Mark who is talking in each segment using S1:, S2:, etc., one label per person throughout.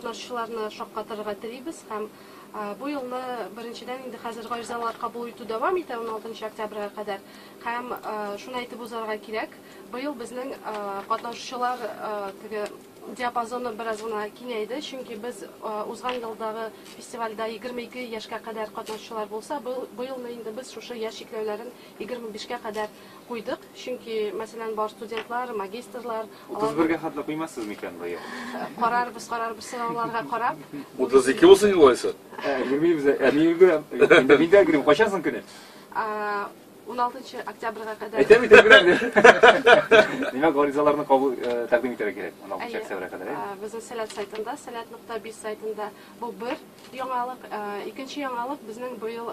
S1: Язучыларны шаккатырырга телибез һәм бу елны беренчедән инде хәзер гаризалар кабул итү дәвам итә, уналтынчы октябрьгә кадәр. Һәм шуны әйтеп узарга кирәк, быел безнең катнашучылар теге диапазоны бераз гына киңәйде, чөнки без узган елдагы фестивальдә егерме ике яшькә кадәр катнашучылар булса, быелны инде без шушы яшь чикләүләрен егерме бишкә кадәр Куйдык, чөнки, мәсәлән, бар студентлар, магистрлар. 31 гә хәтле
S2: куймассыз микән, быел? Карарбыз,
S1: карарбыз, сорауларга карап. 32 булсын инде
S3: алайса. Ә, йөрмибез, ә
S2: мин өлгерәм. Инде мин дә өлгерәм. Кайчан соң көне? 16
S1: октябрьга кадәр. Әйтәм, әйтәм, өлгерәм.
S2: Димәк, гаризаларны кабул тәкъдим итәргә кирәк 16 октябрьгә кадәр. Әйе. Безнең Сәләт сайтында,
S1: сәләт нокта биз сайтында бу бер. Яңалык, икенче яңалык безнең быел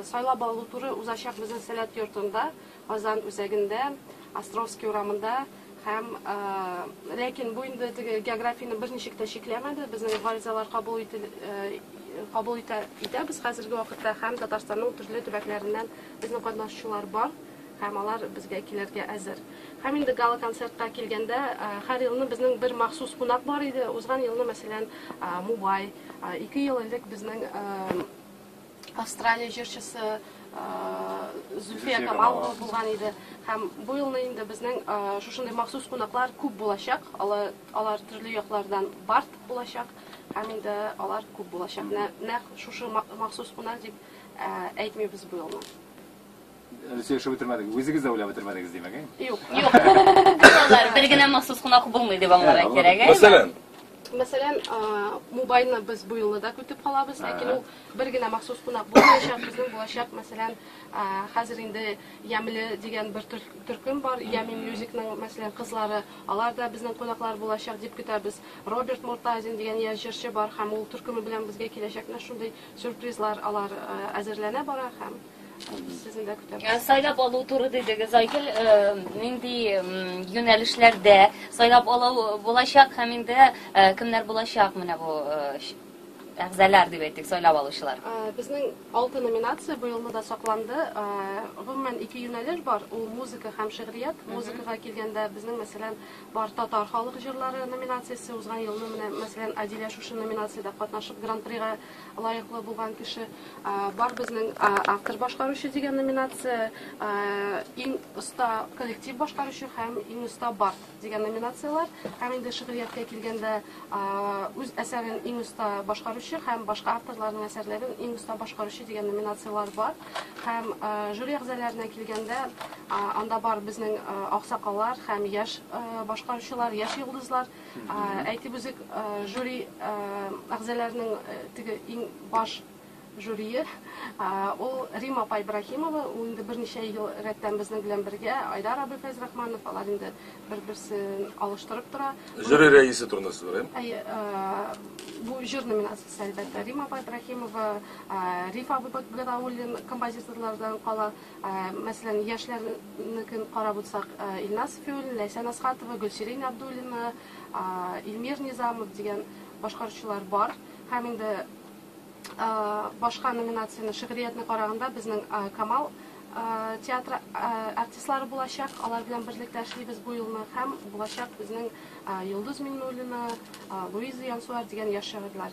S1: сайлап алу туры узачак безнең Сәләт йортында, Казан үзәгендә, Островский урамында һәм ләкин бу инде теге географияне берничек тә чикләмәде, безнең гаризалар кабул ителә, кабул итә, итәбез хәзерге вакытта һәм Татарстанның төрле төбәкләреннән безнең катнашучылар бар һәм алар безгә килергә әзер. Һәм инде гала концертка килгәндә, һәр елны безнең бер махсус кунак бар иде, узган елны мәсәлән Мубай, Ике ел элек безнең Австралия җырчысы Зульфия Камалова булган иде. Һәм бу елны инде безнең шушындый махсус кунаклар күп булачак. Алар, алар төрле яклардан барт булачак. Һәм инде алар күп булачак. Нәкъ шушы махсус кунак дип әйтмибез бу елны.
S2: Сөйләшеп бетермәдек. Үзегез дә уйлап бетермәдегез, димәк, әй? Юк, юк.
S1: Булалар.
S4: Бер генә махсус кунак булмый дип аңларга кирәк, әй? Мәсәлән, Мәсәлән,
S1: а, Мубайны без бу елны да көтеп калабыз, ләкин ул бер генә махсус кунак булмаячак. Безнең булачак, мәсәлән, а, хәзер инде Ямле дигән бер төр- төркем бар, Ями Мьюзикның, мәсәлән, кызлары, алар да безнең кунаклар булачак дип көтәбез. Роберт Муртазин дигән яшь җырчы бар һәм ул төркеме белән безгә киләчәк. Менә шундый сюрпризлар алар а, әзерләнә бара һәм Ә сайлап алу туры
S4: дидегез, Айгөл, э, нинди м, юнәлешләрдә сайлап алу булачак һәм инде э, кемнәр булачак менә бу э, ш- әгъзалар дип әйтик, сайлап алучылар? Ә, Безнең алты
S1: номинация быелны да сакланды. Ә, Гомумән ике юнәлеш бар. Ул музыка һәм шигърият. Музыкага килгәндә безнең мәсәлән бар татар халык җырлары номинациясе узган елны менә мәсәлән Адилә шушы номинациядә катнашып гран-прига лаеклы булган кеше бар безнең автор башкаручы дигән номинация иң оста коллектив башкаручы һәм иң оста бард дигән номинацияләр һәм инде шигърияткә килгәндә үз әсәрен иң оста башкаручы һәм башка авторларның әсәрләрен иң оста башкаручы дигән номинацияләр бар һәм жюри әгъзаларына килгәндә анда бар безнең аксакаллар һәм яшь башкаручылар яшь йолдызлар Әйтеп үзек, жюри әгъзаларының теге иң баш жюрие, ул Рима апа Ибраһимова, ул инде берничә ел рәттән безнең белән бергә, Айдар абый Фәйзрахманов, алар инде бер-берсен алыштырып тора. Жюри рәисе турында
S3: сүз бара, әйе? Әйе,
S1: бу җыр номинациясе, әлбәттә, Рима апа Ибраһимова, Риф абый Гатауллин композиторлардан кала. Мәсәлән, яшьләрнекен карап үтсәк, Илназ Сфиуллин, Ләйсән Әсхатова, Гөлсирин Абдуллина, Илмир Низамов дигән башкаручылар бар. Һәм инде башка номинацияне, шигъриятне караганда, безнең Камал театры артистлары булачак. Алар белән берлектә эшлибез бу елны. Һәм булачак безнең Йолдыз Миңнуллина, Луиза Янсуар дигән яшь шагыйрьләр.